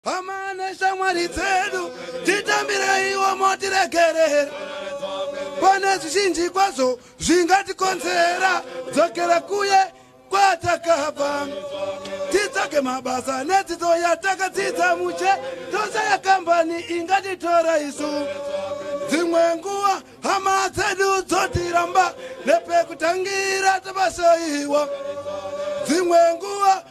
Hama neshamwari dzedu titambireiwo motiregerera pane zvizhinji kwazvo zvingatikonzera dzokera kuye kwatakabva titsvage mabasa nedzidzo yatakadzidza muche tose yakambani ingatitora isu dzimwe nguva hama dzedu dzotiramba nepekutangira tabasaiwa dzimwe nguva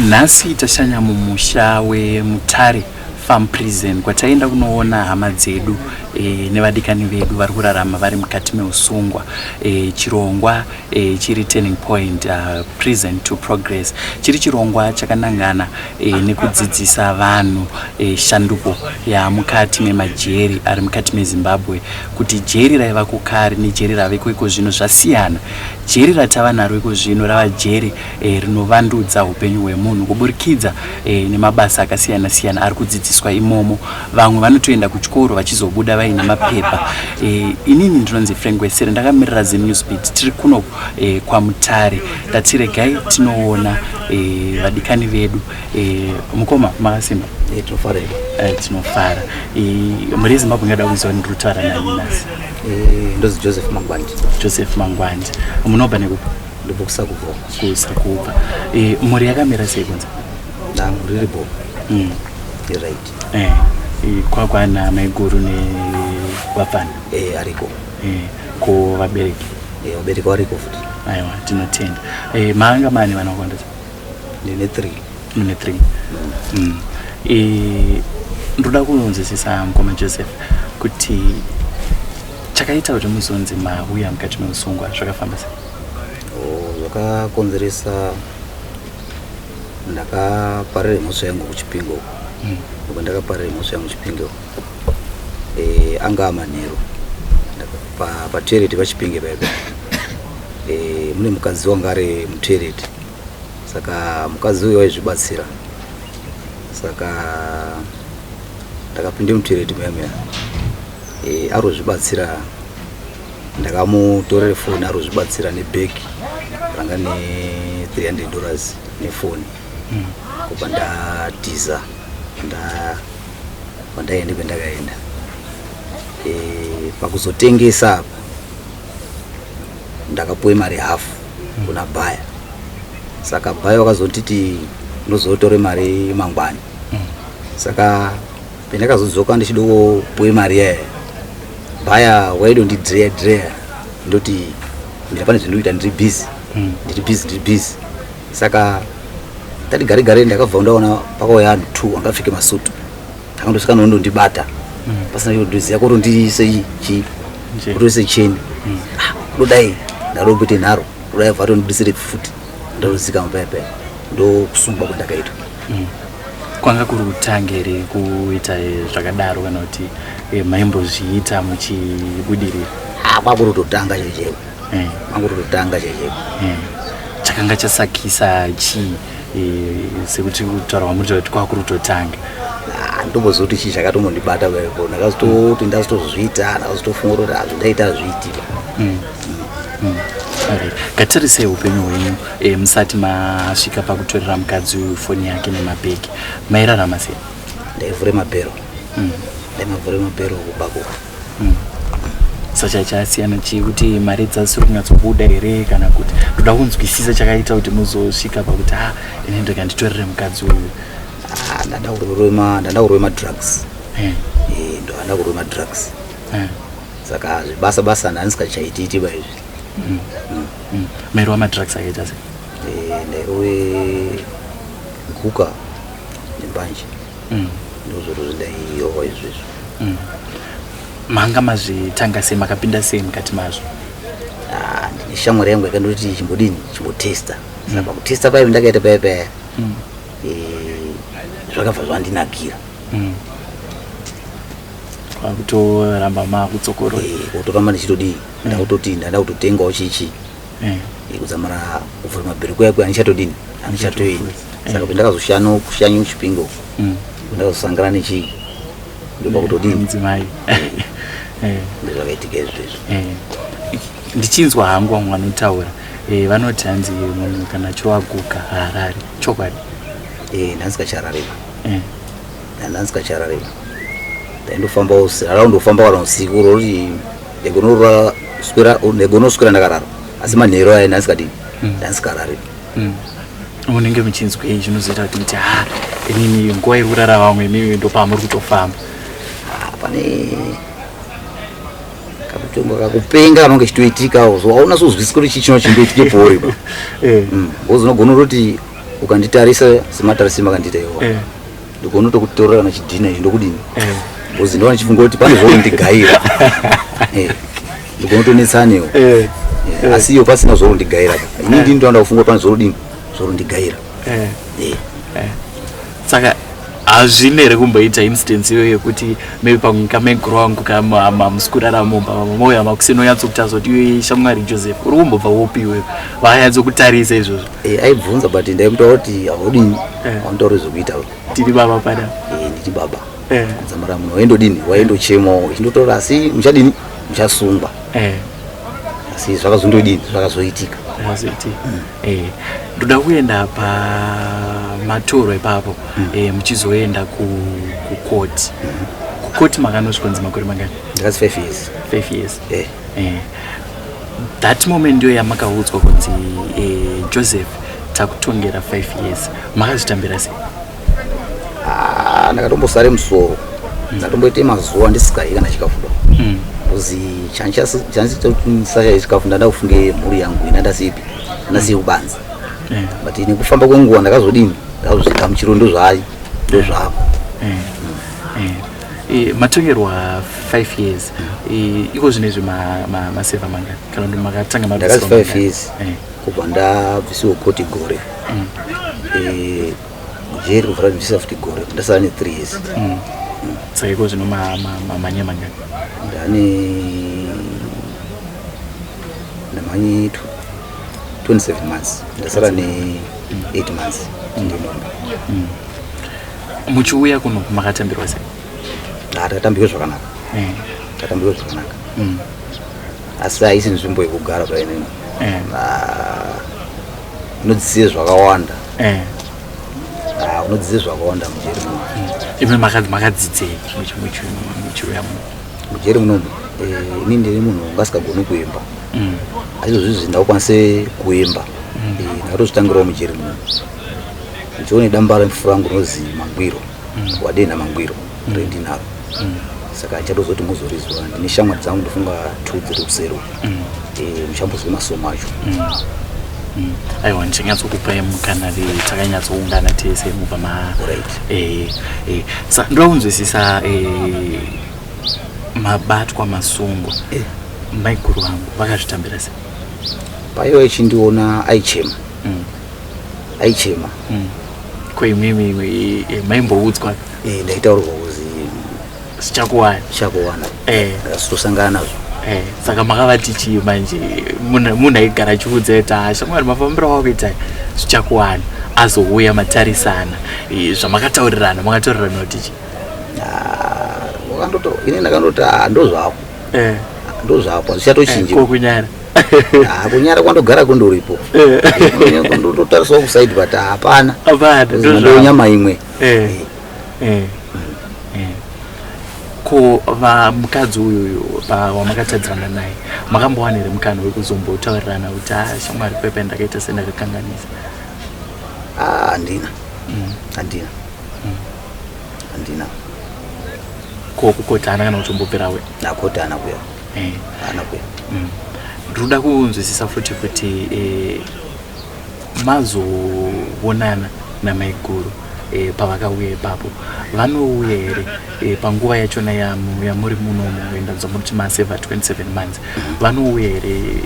Nhasi tashanya mumusha weMutare Farm Prison kwataienda kunoona hama dzedu e, nevadikani vedu vari kurarama vari mukati meusungwa e, chirongwa e, chiri turning point uh, prison to progress chiri chirongwa chakanangana e, nekudzidzisa vanhu e, shanduko yamukati memajeri ari mukati mezimbabwe kuti jeri raiva kukari nejeri raveko iko zvino zvasiyana jeri ratava naro iko zvino rava jeri e, rinovandudza upenyu hwemunhu kuburikidza e, nemabasa akasiyana siyana ari kudzidziswa imomo vamwe vanotoenda kuchikoro vachizobuda vaine mapepa e, inini ndinonzi frank wesere ndakamirira zenewsbit tiri kuno e, kwamutare tatiregai tinoona e, vadikani vedu e, mukoma makasimba e, tinofara e, tinofara e, mhuri yezimbabwe ingada kuziva ndiri kutaura nani nasi e, ndozi joseph mangwandi joseph mangwandi munobva nekupa ndobokusa kubva kusa kubva eh, mhuri yakamira sei kunze dangu riri bo mm. right eh, eh, kwakwana maiguru nevapfana eh, ariko eh, ko vabereki eh, vabereki variko futi aiwa tinotenda eh, maanga mani vanakondesa ndine three mune three mm. mm. eh, ndoda kunonzwisisa mukoma joseph kuti chakaita kuti muzonzi mauya mukati meusungwa zvakafamba sei zvakakonzeresa ndakaparira imhosva yangu kuchipingo hmm. uko ndakaparira imhosva yangu kuchipingo eh, anga amanheru patoireti pachipinge paipa eh, mune mukadzi wanga ari mutoireti saka mukadzi uyo waizvibatsira saka ndakapinda mutoireti muyamuyana eh, arozvibatsira ndakamutorera foni arozvibatsira nebag ranga ne 300 dollars nefoni mm. kubva ndatiza kwandaende kwendakaenda e, pakuzotengesa apa ndakapuwe mari hafu mm. kuna bhaya saka bhaya wakazotiti ndozotore mari mangwani mm. saka Pendakazodzoka ndichidowo we mari yaya baya waido ndidreya dreya ndoti mira pane zvandikuita ndiri busy hmm. ndiri busy ndiri busy saka tati gare gare ndakabva ndaona pakauya anhu two angapfeke masutu akandosvika nondondibata hmm. pasina chodoziva kotondiise chii kutoise cheni hmm. ah, dodai ndarombete nharo dodai vhato ndidisire futi ndalozika mapayapaya ndokusungwa kwandakaitwa kwanga kuri kutanga here kuita zvakadaro kana kuti eh, maimbozviita muchibudirira ah, kwakuri kutotanga checheku eh. kwakuri kutotanga checheku eh. chakanga chasakisa chii sekuti kutaurwa muri kuti kwakuri kutotanga ah, ndombozoti chii chakatombondibata kwepo ndakazototi ndazotozviita ndakazotofunga kuti hazvindaita ah, zviitika mm. mm. mm. ngatirisei upenyu hwenyu E, musati masvika pakutorera mukadzi uyu foni yake nemabheki mairarama sei? Ndaivhure mabhero mm. ndaimavhure mabhero kubako mm. sacha chasiyana chii kuti mari dzasiri kunyatsobuda here kana kuti ndoda kunzwisisa chakaita kuti muzosvika pakuti a ah, ini ndoka nditorere mukadzi uyu ah, ndada kurove madrugs eh. eh, ndoanda kurove madrugs eh. saka zvibasa basa ndandisikachaitiitiba izvi mm. mm. Mm. Mairi wamadrugs akaita se? Eh, ndairowe nkuka nembanje. Mm. Ndozviro zvindaiyowa izvezvo. Mm. Manga mazvitanga sei makapinda sei mukati mazvo? Ah, ndine shamwari yangu yakandoti chimbodini chimbotesta. Mm. Saka kutesta paive ndakaita paya paya. Mm. Eh, zvakabva zvandinakira. Mm kutoramba makutsokoroa kutoramba ndichitodii nda kutoti ndada kutotengawo chichi eh. kudzamara kuvhura mabhiriko yako anichatodini anichatoini saka kuti ndakazoshano kushanyi kuchipingo mm. ndakazosangana nechii ndopa kutodini mudzimai eh. ndozvakaitika izvo izvo eh. ndichinzwa hangu vamwe vanotaura vanoti hanzi munhu kana choaguka haarari chokwadi ndanzi kacharareva ndanzi kacharareva ndaindofamba usiku araundofamba kana usiku rori Egonorora swera egono swera ndakarara asi manhero aya ndasikadii hmm. ndasikarari hmm. munenge muchinzwei zvinozoita kuti muti ha inini nguva iri kurara vamwe imimi ndopamuri kutofamba ah, pane kakutonga kakupenga kanonge chitoitikawo so auna sozwisisa kuti chii chino chindoitike pori ba eh. hmm. bcause unogona kuti ukanditarisa sematarisima kandiita iwo eh. ndikuona tokutorora kana chidhina izvi ndokudini eh. bcoz ndovana chifunga kuti pane zvoo ndigaira eh. ndikuona tonetsanewo eh. asi iyo pasina zvoro ndigaira ini ndini ndoanda kufunga pane zvoro dini zvoro ndigaira saka hazvine here kumboita instance iyo yekuti maybe pamwe kamegro wangu kamusi kurara mumba vamwe mouya makuseni onyatsokutarisa kuti iyoyi shamwari joseph uri kumbobva wopiwe vanyatsokutarisa izvozvo Eh, aibvunza but ndaimutaura kuti haudini hauntauri zvekuita tiri baba pada Eh, nditi baba Eh. kudzamara munhu waindodini waindochemawo ichindotaura asi muchadini muchasungwa Eh, asi zvakazondodini zvakazoitika mazoiti Eh, ndoda kuenda pamatoro ipapo Eh, muchizoenda ku- kukoti kukoti makanosvikonzi makore mangani ndakati five years five years Eh. eh, that moment ndiyo yamakaudzwa kunzi eh, joseph takutongera 5 years makazvitambira sei ah, ndakatombosare musoro mm. ndatomboite mazuva ndisikai kana chikafu do mm. kuzi chandichasashaye chikafu ndanda kufunge mhuri yangu ina ndasipi ndasiye mm. kubanza eh. but nekufamba kwenguva ndakazodini ndakazozvigamuchiro ndozvayo ndozvako eh. Eh, matongerwa 5 years eh, iko zvine izvi maseva manga kana kuti makatanga mabiswa 5 years eh. kubva ndabvisiwo koti gore mm. jeri kuvhura ndibvisa futi gore ndasara ne 3 years mm. Mm. saka iko zvino mamanya manga ndane ndamanyi 27 months ndasara ne 8 months ndinomba muchiuya kuno makatambirwa sei ah, takatambirwa zvakanaka eh. takatambirwa zvakanaka mm. asi haisi nzvimbo yekugara painini eh. ah, unodzidzire zvakawanda eh. ah, unodzidzire zvakawanda mujeri muno mm. imi makadzidzei muchiuya muno mujeri munomu ini ndiri munhu ngasikagoni kuimba mm. aizvozvizvi ndakukwanise kuimba mm. ndakatozvitangirawo mujeri muno John damba refu rangu rozi Mangwiro mm. wadenha Mangwiro mm. rendinaro mm. saka achatozoti muzorizwa ndine shamwari dzangu ndofunga two dziri kusero mm. e, eh, muchambozwe masomo acho mm. mm. aiwa ndichanyatsokupai mukana ve takanyatsoungana tese mubva ma right. e, e. sa ndoda kunzwisisa e, mabatwa masungwa e. maiguru vangu vakazvitambira se paiva ichindiona aichema mm. aichema mm. ko imimi eh, maimboudzwa eh, ndaitaurwa kuzi sichakuwana sichakuwana eh. tosangana nazvo Eh, saka makavati chii manje munhu aigara achiudza ita hasha mwari mafambiro wakuita zvichakuwana azouya matarisana eh, zvamakataurirana makataurirana kuti chi ah, ini ndakandoti ah, ndozvako eh. ndozvako zvichatochingikokunyara Ah, kunyara kwandogara kundoripo ndototarisawo kusaidi but hapana ndonyama imwe eh, eh, eh. ko vamukadzi uyuyu wamakatadzirana naye makambowana here mukana wekuzombotaurirana kuti a ah, shamwari pepe ndakaita sendakakanganisa ah, handina mm. handina mm. handina ko kukotana kana kutombobvirawe akotana kuya eh. anakwe mm. ndinoda kunzwisisa futi kuti eh, mazoonana namaiguru eh, pavakauya ipapo vanouya here eh, panguva yachona yamuri munomu endanzwa muri kuti maseva 27 months mm-hmm. vanouya here eh,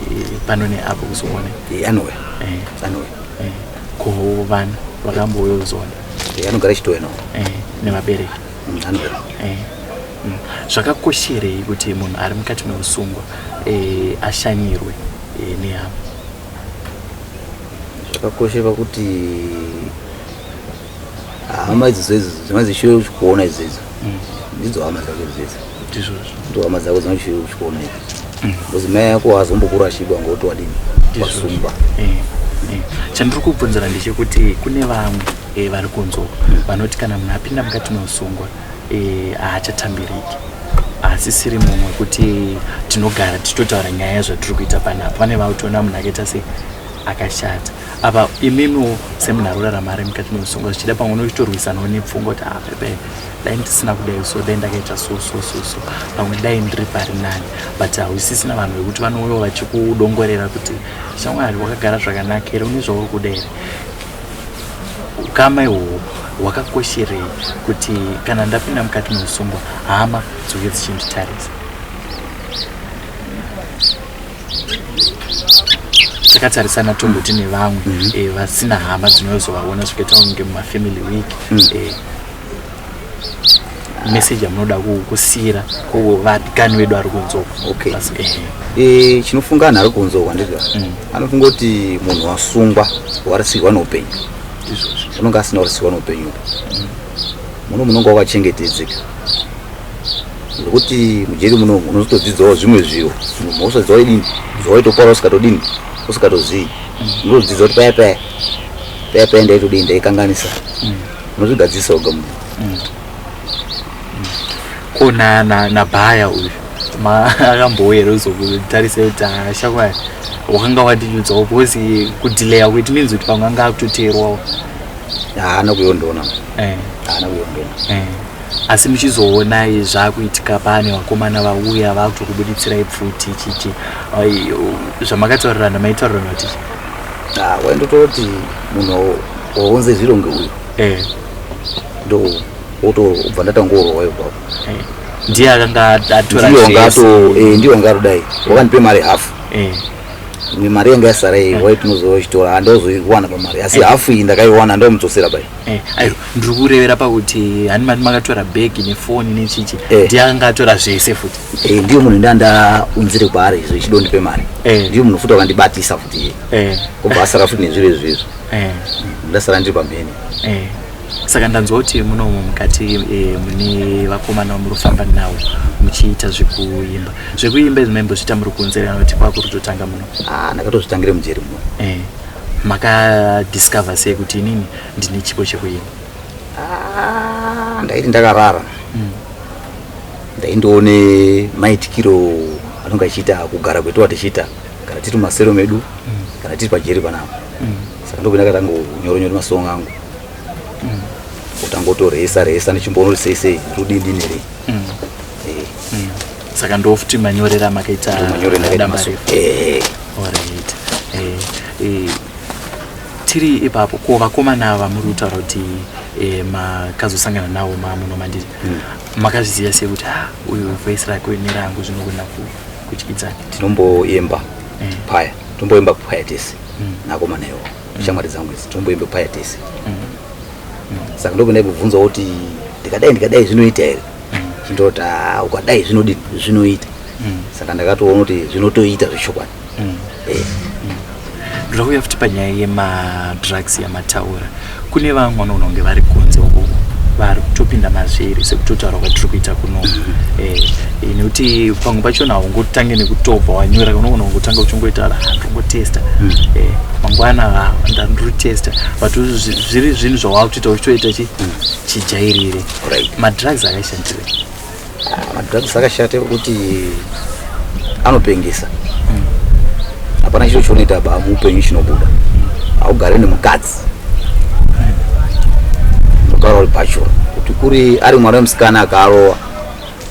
pano neapo kuzoona eh, anouya eh. anouya eh. ko vana vakambouya kuzoona eh, anogara chitoya navo eh, nevabereki Eh, mm. zvakakosherei kuti munhu ari mukati meusungwa eh, ashanyirwe eh, nehama zvakakoshe pakuti hama idzidzo idzo dzinozi shure kuona idzidzo mm. ndidzo hama dzake idzidzo ndizvozvo ndohama dzako dzinochiri kuchikona ivi because mai yako haazombokurashikwa ngokuti wadini wasungwa Eh, eh. chandiri kubvunzira ndechekuti kune vamwe eh, vari kunzwa vanoti kana munhu apinda mukati meusungwa eh, haachatambiriki haasisiri munhu wekuti tinogara tichitotaura nyaya yazvatiri kuita panapa pane vakutoona munhu akaita sei akashata apa imimiwo semunhu ari kurarama ari mukati meusungwa zvichida pamwe unochitorwisanawo nepfungwa kuti ah, pepe dai ndisina kudai so dai ndakaita so so so so pamwe dai ndiri pari nani but hausisina vanhu vekuti vanouya vachikudongorera kuti shamwari wakagara zvakanaka here une zvauri kuda here ukama ihwohwo hwakakosherei kuti kana ndapinda mukati meusungwa hama dzoke dzichinditarisa takatarisana tomboti nevamwe mm -hmm. e, vasina hama dzinozovaona zvikaita kunge mumafamily week mm. e, message amunoda kusiyira kuvatikani vedu ari kunzwa okay. e, chinofunga anhu ari kunzwa kwandizva mm. anofunga kuti munhu wasungwa warasirwa neupenyu unonge asina kurasirwa neupenyu mm. muno munonga wakachengetedzeka zvekuti mujeri muno unozotodzidzawo zvimwe zviro munhu wosadziwa idini zvawaitopara usikatodini usikatozivi mm. unotodzidza kuti paya paya paya paya ndaitodini ndaikanganisa mm. Unozvigadzisa oga munhu. Mm. Ko na na na baya uyu. Ma akambowe here uzokutarisa kuti ashakwa wakanga wadinyudzawo because kudelaya kuti means kuti pamwe anga akutoteerwawo. Haana kuyondona. Eh. Haana kuyondona. Eh. asi muchizoonai zvakuitika pane vakomana vauya vakutokubuditsira ipfuti chichi zvamakataurirana maitaurirana kuti Ah, waindototi munhu waunze zviro ngeuyu eh. ndo wotobva ndatangorowa ipapo eh. ndiye akanga atorandiongaatodayi eh, wakandipe mari hafu imwe mari yanga yasara iyi wai tinozoa chitora handaozoiwana pamari asi hafu iyi ndakaiwana ndomudzosera pai ndiri kurevera pakuti hani mati makatora bhegi nefoni nechichi ndiye akanga atora zvese futi Eh, ndiyo munhu ndandaunzire kwaari izvo ichidondipe mari Eh. ndiyo munhu futi wakandibatisa futi iye Eh, kubva asara futi nezviro izvo izvo eh, ndasara ndiri pamhene eh. saka ndanzwa kuti munomu mukati eh, mune vakomana vamuri kufamba navo muchiita zvekuimba zvekuimba izvi maimbozviita muri kuunzirana kuti kwakuri kutotanga muno Ah, ndakatozvitangire mujeri muno eh, makadiscover sei kuti inini ndine chipo chekuimba Ah, ndaiti ndakarara ndaindoone maitikiro anonga achiita kugara kwetowa tichiita kana tiri mumasero medu kana tiri pajeri panapa saka ndokuna katanga kunyoro nyoro masong angu kutangotoresa resa ndichimboona kuti sei sei rudii ndini rei saka ndofuti manyorera makaita eh. eh, eh, tiri ipapo ko vakomana vamuri kutaura kuti makazosangana nawo mamuno mandiri hmm. makazviziva sei kuti ha uyu voice rake uyu nerangu zvinogona kutyidzana tinomboemba mm. paya tinomboemba paya tese mm. nakomana iwo mm. shamwari dzangu idzi tinomboemba paya tese saka ndokundai kubvunza kuti ndikadai ndikadai zvinoita here chindoti ukadai zvinoita saka ndakatoona kuti zvinotoita zvechokwadi ndinokuya futi panyaya yemadrugs yamataura kune vamwe vanoona kunge vari kunze uko vari kutopinda mazviri sekutotaura kwatiri kuita kuno Eh, nekuti pamwe pachona haungotange nekutobva wanyora unogona kungotanga uchingoita "Ah, ndongotesta Eh, mangwana ah, nda- ndiri kutesta but zvi- zviri zvinhu zvawava kutoita uchitoita chi- chijairire madrugs akashandire madrugs akashata ekuti anopengesa hapana chiro chinoita ba muupenyu chinobuda haugare nemukadzi unogara uri bachura kuti kuri ari mwana wemusikana akarowa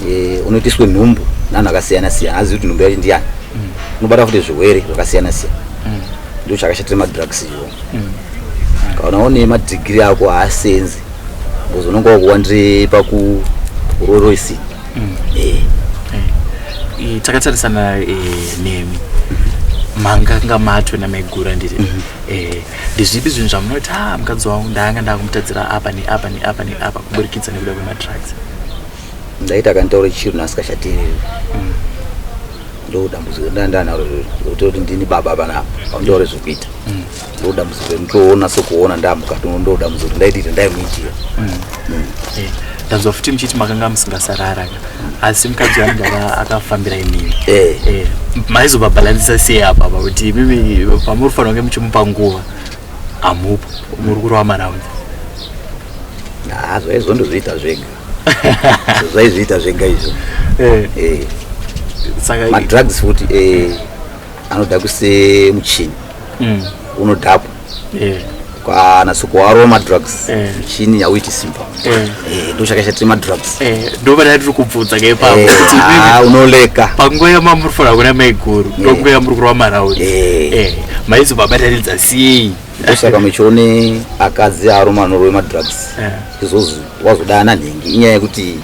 eh, unoitiswe nhumbu nanhu akasiyana siyana azivi kuti nhumbu yacho ndiyani unobata futi zvirwere zvakasiyana siyana ndio chakashatira madrugs iwo kana une madhigiri ako haasenzi because unenge wakuwa ndiri pakuroroisi mm. eh. eh, takatarisana eh, nemi manganga matwe namaigura ndiri mhm. ndezvipi zvinhu zvamunoti ha ah, mukadzi wangu ndaanga ndakumutadzira apa neapa neapa neapa kuburikidza nekuda kwemadrugs ndaiti akanditaura chiro nasikashatiri mm. ndodambudziko ndandanaro kuti ndini baba panapa aundaure zvekuita mm. ndoda muzore mutoona sokuona ndamukati ndoda muzore ndaitite ndaimuitira mm. mm. eh, ndanzwa futi muchiti makanga musingasarara asi mukadzi wangu ava akafambira imimi eh. eh, maizobabhalansisa sei apa pa kuti imimi pamuri fanira kunge muchimupa nguva hamupo muri kurova maraundi zvaizvo ndozviita zvega zvaizviita zvega izvo madrugs futi anoda kuse muchini mm. unodhakwa yeah. kana sokuwarwa madrugs eh. chini yauiti simba eh. eh, ndochakashatira madrugs ndovana tiri kubvunza ngepaunouleka ah, panguva yamamuri fanira kuna maiguru ndonguva yamuri kurwa maraundi maizo babatanidza sei ndosaka muchione akadzi aroma anorova madrugs izvozvi wazoda ana nhingi inyaya yekuti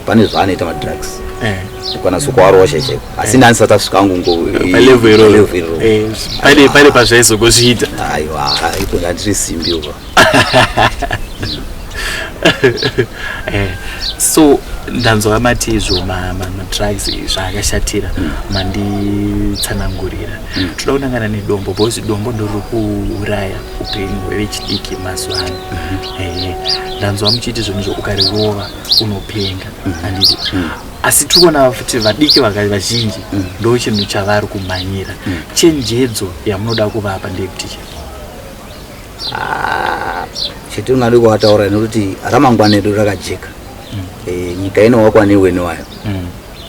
pane zvaanoita madrugs eh. kukwanisa kuarosha cheko asi eh. ndanisati asvika angu ngopalevo iroro eh, pane pane pazvaizogozviita aiwa ikonga ndiri simbi uko so ndanzwa mati izvo madrugs zvaakashatira hmm. manditsanangurira hmm. toda kunangana nedombo because dombo ndoriri kuuraya upenyu hwevechidiki mazuva ano hmm. ndanzwa muchiiti zvinhu zvo ukarirova unopenga handiti asi tiri kuona futi vadiki vakati vazhinji mm. ndo chinhu chavari kumhanyira mm. chenjedzo yamunoda kuvapa ndeyekuti chii ah, chetinoda kuvataura nekuti ramangwana edu rakajeka mm. eh, nyika inowakwa newene wayo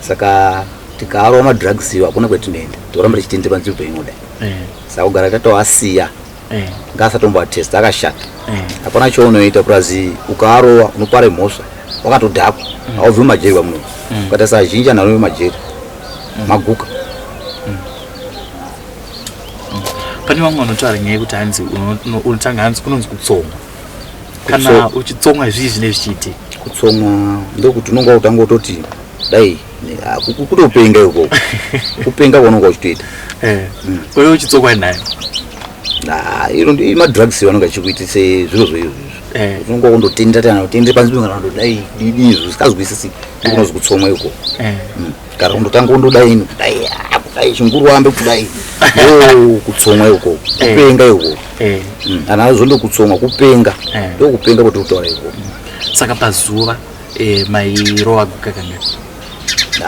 saka tikaarwa madrugs iwo hakuna kwetinoenda tikuramba tichitendekwa nzvimbo inodai eh. saka kugara tatoasiya eh. ngaasatombo atest akashata eh. hapana eh. chounoita purazi ukaarova unopara mhosva wakatodhakwa mm. haubvi mumajeri vamuno mm. ukaita sazhinji anhu anovi majeri mm. maguka mm. mm. pane vamwe vanotaura nyaya yekuti hanzi unotanga hanzi kunonzi kutsonga kana uchitsonga zvii zvine zvichiitika kutsonga ndokuti unonga utanga utoti dai kutopenga ikoko kupenga kwaunonga uchitoita eh, mm. uye uchitsokwa nayo ah, iro madrugs vanonga achikuitisa zviro zvoizvo eh. unonga kundotenda tana utende panzi kana ndodai didi izvo zvisikazwisisi ndikunozi eh. kutsomwa ikoko mm. kana kundotanga kundodai kudai ah, kudai chinguru wambe kudai oh, kutsomwa ikoko kupenga ikoko mm. ana azondokutsomwa kupenga ndokupenga kuti utaura ikoko saka pazuva Eh, mairowa guka kanga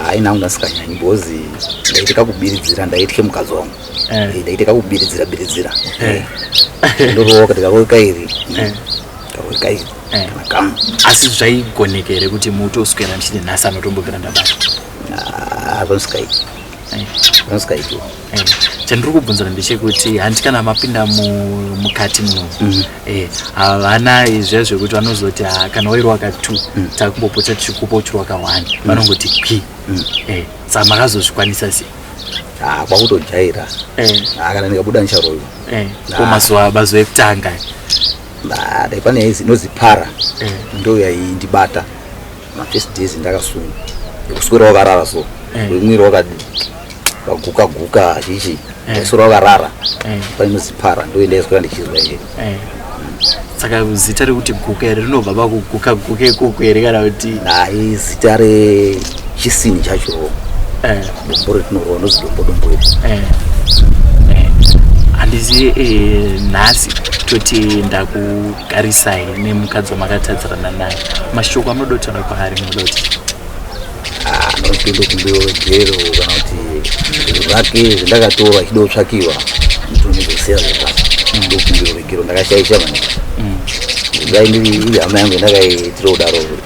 haina kunga sikanyanyi because ndaita kakubiridzira ndaitye mukadzi wangu Eh. Eh, ndaita kakubiridzira biridzira Eh. ndorowa kati kakoi kairi Eh. kakoi kairi Eh. kana kamwe asi zvaigoneka here kuti mutoswera ndichiti nhasi anotombobvira ndabata Ah, hapanosikaiti Eh. hapanosikaitiwa chandiri kubvunzira ndechekuti handi kana mapinda mukati muno mm. eh, havana izviya zvekuti vanozoti ah, kana wairi waka t mm. takumbopota tichikupa uchiri waka one mm. vanongoti kwi eh, saa makazozvikwanisa sei ah, kwakutojaira eh. ah, kana ndikabuda ndicharoiwa eh, ko mazuva mazuva ekutanga dai pane inozipara ndoyaindibata mafirst days ndakasunga kuswera wakarara so eh. mwiri wakaguka guka chichi ndaswera eh. wakarara eh. painozipara ndoenda iswera ndichizwa iye saka zita rekuti guka here rinobva pakuguka guka ikoko here kana kuti nai zita rechisini chacho dombo retinorova ndozi dombo dombo iri handizive nhasi toti ndaku garisai nemukadzi wamakatadzirana naye mashoko amunoda kuti ave kwaari munoda kuti anotoenda kumbewa jero kana kuti zvinhu zvake zvendakatora achida kutsvakiwa ndonizosiya zvepasi mm. ndokumbiro vegero ndakashaisha maningi mm. zvaindiri iri hama yangu yendakaitira kudaro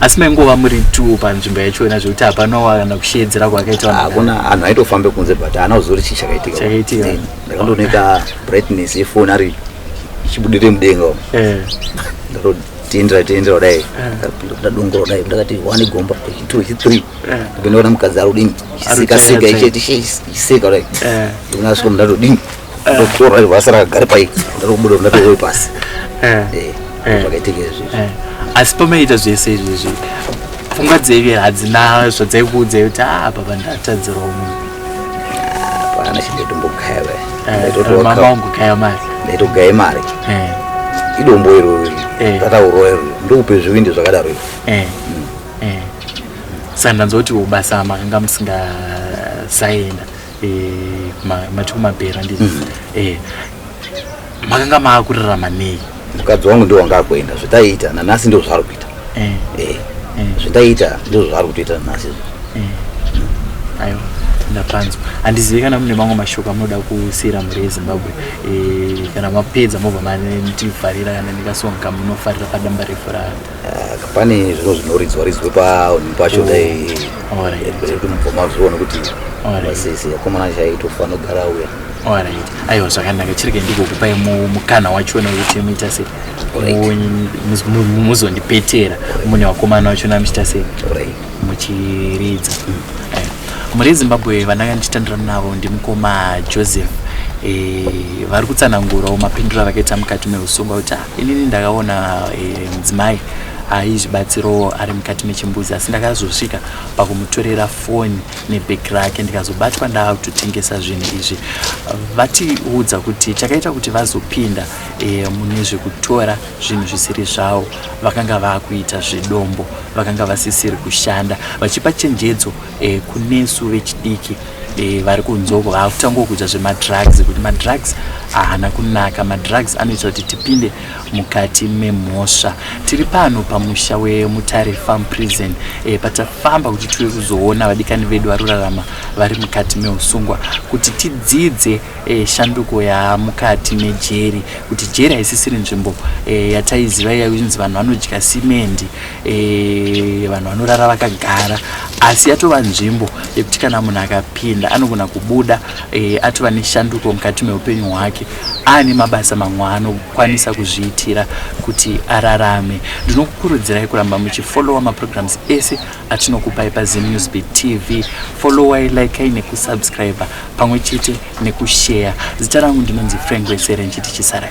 asi maingova muri two panzvimbo yachona zvekuti hapana kana kusheedzera kwakaita hakuna anhu aitofambe kunze but haana kuziva kuti chii chakaitika chakaitika ndakandooneka brightness yefoni ari ichibudire mudenga umo eh. ndakatotiindira tiindira kudai eh. ndadongora kudai ndakati one gomba two three eh. ndapinda kuna mukadzi ari kudini chisikasika ichiti chiseka kudai ndikuna svika mundatodini ndokutora ivo asara agare pai ndarokubuda ndatooi pasi eh, eh, eh. zvakaitika izvi asi pamaiita zvese izvi izvi pfungwa dzeive hadzina zvadzaikuudza kuti a ah, baba ndatadzirwa munhu hapana chindaitombokaiva mama wangu kaiva mari ndaitogaya mari idombo iro rataurwa iro ndokupe zvivindi zvakadaro ivo hmm. saka ndanzwa kuti ubasa makanga musingasaenda eh, mati kumabhera handizi mm. eh, makanga maakurirama nei mukadzi wangu ndiwo wanga akuenda zvataiita nanasi ndizvo zvaari kuita eh. Eh. Eh. zvataiita ndizvo zvaari kutoita nanasi aiwa ndapanzwa handizivi kana mune mamwe mashoko amunoda kusiyira mhuri yezimbabwe kana mapedza mobva manetivharira kana ndikasonga munofarira padamba refu raro Ah, pane zvinhu zvinoridzwa ridzwe paunhu pacho oh, dai kuti mubva mazviona kuti vasisi akomana chaitofa anogara uya orit aiwa zvakanaka chirege ndigokupai mukana wachona wekuti muita sei muzondipetera mune vakomana vachona muchita sei muchiridza mhuri yezimbabwe vandanga ndichitandira navo ndimukoma joseph eh, vari kutsanangurawo mapindura avakaita mukati meusungwa kuti inini ndakaona eh, mudzimai e, aizvibatsirawo ari mukati mechimbuzi asi ndakazosvika pakumutorera foni nebheki rake ndikazobatwa ndaakutotengesa zvinhu izvi vatiudza kuti chakaita kuti vazopinda e, mune zvekutora zvinhu zvisiri zvavo vakanga vakuita zvedombo vakanga vasisiri kushanda vachipa chenjedzo e, kunesu vechidiki Eh, vari kunzwa uko vakutangwa kuita zvemadrugs kuti madrugs ahana kunaka madrugs anoita kuti tipinde mukati memhosva tiri pano pamusha wemutare farm prison e, patafamba kuti tiwe kuzoona vadikani vedu vari kurarama vari mukati meusungwa kuti tidzidze e, shanduko yamukati mejeri kuti jeri haisisiri nzvimbo e, yataiziva yainzi vanhu vanodya simendi Eh, vanhu vanorara vakagara asi yatova nzvimbo yekuti kana munhu akapinda anogona kubuda eh, atova neshanduko mukati meupenyu hwake aane mabasa mamwe anokwanisa kuzviitira kuti ararame ndinokukurudzirai kuramba muchifollowa maprograms ese atinokupai pazimnewsb tv followai likai nekusubscribe pamwe chete nekushare zita rangu ndinonzi frank wesere nchiti chisarai